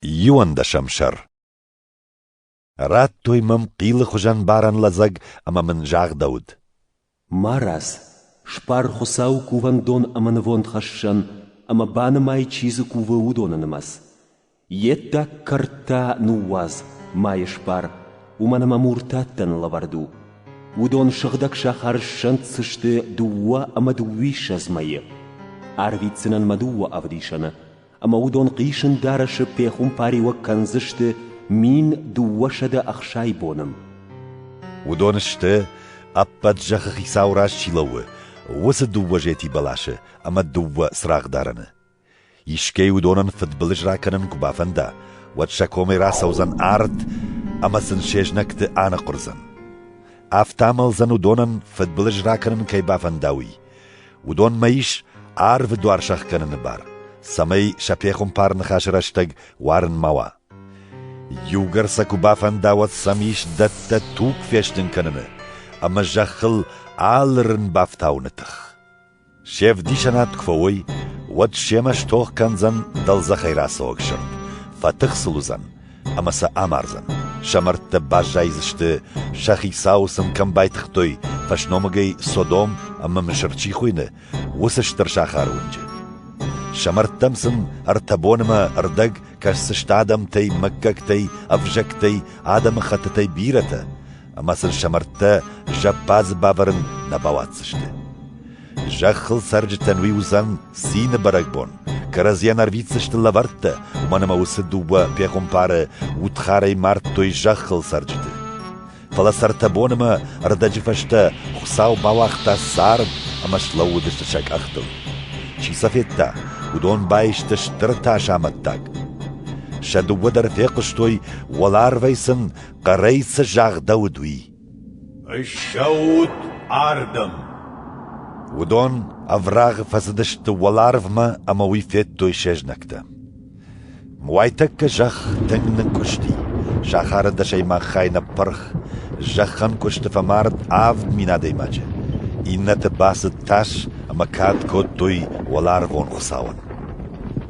Иуӕндӕсӕм сӕр Радтой мӕм хъилы хуызӕн барӕн лӕдзӕг ӕмӕ мын загъдӕуыд. Марадз, сбар Хуыцауы кувӕндон ӕмӕ нывондхӕссӕн, ӕмӕ банымай, чи дзы кувы, уыдоны нымӕц. Йе ддаг кӕрдтӕ ныууадз, ма йӕ сбар, уымӕн ӕмӕ муртаттӕн лӕвӕрд у. Уыдон сыгъдӕг сахары ссӕнддзысты дыууӕ ӕмӕ дыууиссӕдз мӕйы. Арвитдзынӕн мӕ дыууӕ ӕвдисӕны, ӕмӕ уыдон хъисын дарӕсы пехуымпариуӕг кӕндзысты мин дыууӕсӕдӕ ӕхсай боны. Уыдон сты, ӕппӕт зӕххы хицау раз чи лӕууы, уыцы дыууӕ зети бӕласы ӕмӕ дыууӕ цырагъдарӕны. Искӕй уыдонӕн фыдбылыз ракӕнын куы бафӕнда, уӕд сӕ комӕй рацӕудзӕн арт ӕмӕ сын се знӕгты аныхъуырдзӕн. Афтӕ амӕлдзӕн уыдонӕн фыдбылыз ракӕнын кӕй бафӕнда, уый. Уыдонмӕ ис арвы дуар сӕхгӕныны бар, цӕмӕй сӕ пехуымпар ныхасы рӕстӕг уарын ма уа. Иугӕр сӕ куы бафӕнда, уӕд сӕм ис дӕттӕ туг фестын кӕныны ӕмӕ зӕххыл алырын бафтауыны тых. Се вдисӕнад куы фӕуой, уӕд семӕ стох кӕндзӕн дӕлдзӕхӕй рацӕуӕг сырд, фӕтых сыл уыдзӕн, ӕмӕ сӕ амардзӕн. Сӕ мӕрдтӕ баззайдзысты, сӕ хицау сын кӕм байтыгътой, фӕсномыгӕй Содом ӕмӕ Мысыр чи хуыйны, уыцы стыр сахары уынджы. Сӕ мӕрдтӕм сын ӕртӕ бонымӕ ӕрдӕг кӕсдзысты адӕмтӕй, мыггӕгтӕй, ӕвзӕгтӕй, адӕмыхӕттытӕй бирӕтӕ, ӕмӕ сын сӕ мӕрдтӕ зӕппадзы бавӕрын нӕ бауадздзысты. Зӕххыл цӕрджытӕн уый уыдзӕн цины бӕрӕгбон. Кӕрӕдзийӕн ӕрвитдзысты лӕвӕрттӕ, уымӕн ӕмӕ уыцы дыууӕ пехуымпары удхарӕй мардтой зӕххыл цӕрджыты. Фӕлӕ цӕртӕ бон ӕмӕ ӕрдӕджы фӕстӕ Хуыцау бауагъта цард ӕмӕ слӕууыдысты сӕ къӕхтыл. Чи сӕ федта, уыдон байсты стыр тас амӕттаг. Сӕ дыууӕ дӕр фехъуыстой, уӕларвӕй сын хъӕрӕй цы загъдӕуыд, уый. Ссӕут ардӕм! Уыдон ӕврагъы фӕцыдысты уӕларвмӕ ӕмӕ уый федтой се знӕгтӕ. Уайтӕккӕ зӕхх тынг ныккуысти, сахары дӕсӕй мах хай ныппырх, зӕххӕн куысты фӕмард авд мин адӕймаджы, иннӕты бацыд тас ӕмӕ кад кодтой уӕларвон Хуыцауӕн.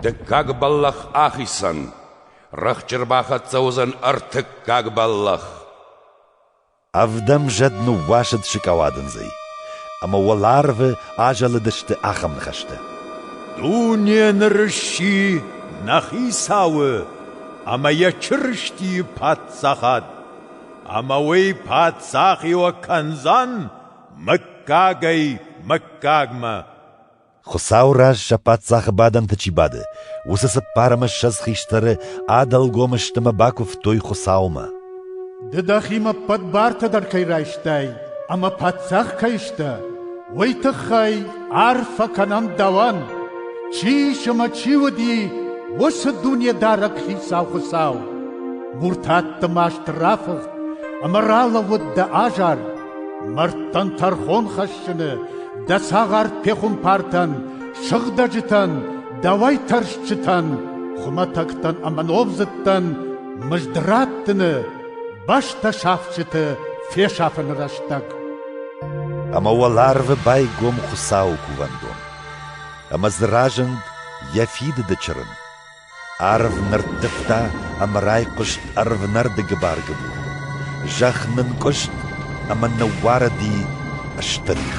Дыккаг бӕллӕх ахицӕн. Рӕхджы рбахӕццӕ уыдзӕн ӕртыккаг бӕллӕх. Ӕвдӕм зӕд ныууасыд сыкъауадындзӕй, ӕмӕ уӕларвы азӕлыдысты ахӕм ныхӕстӕ: «Дуне ныры сси нӕ хицауы ӕмӕ йӕ Чырыстийы паддзахад, ӕмӕ уый паддзахи уӕ кӕндзӕн мыггагӕй мыггагмӕ». Хуыцауы раз сӕ паддзахы бадӕнты чи бады, уыцы цыппар ӕмӕ ссӕдз хистӕры ӕдӕлгом ыстымы бакуывтой Хуыцаумӕ. Ды дӕхимӕ ӕппӕт бартӕ дӕр кӕй райстай ӕмӕ паддзах кӕй сдӕ, уый тыххӕй арфӕ кӕнӕм дӕуӕн, чи ис ӕмӕ чи уыди, уыцы Дунедарӕг Хицау Хуыцау. Муртатты маст рафыхт ӕмӕ ралӕууыд дӕ азар, Мӕрдтӕн тӕрхон хӕссыны дӕ цагъар пехуымпартӕн, сыгъдӕджытӕн, дӕ уайтӕрсчытӕн, хуымӕтӕгтӕн ӕмӕ номдзыдтӕн мызд раттыны, бӕстӕ сафджыты фесафыны рӕстӕг. Ӕмӕ уӕларвы байгом Хуыцауы кувӕндон. Ӕмӕ дзы разынд йӕ фидыды чырын. Арв нырттывта ӕмӕ райхъуыст ӕрвнӕрды гыбар-гыбур. Зӕхх нынкъуыст ӕмӕ ныууарыди стыр их.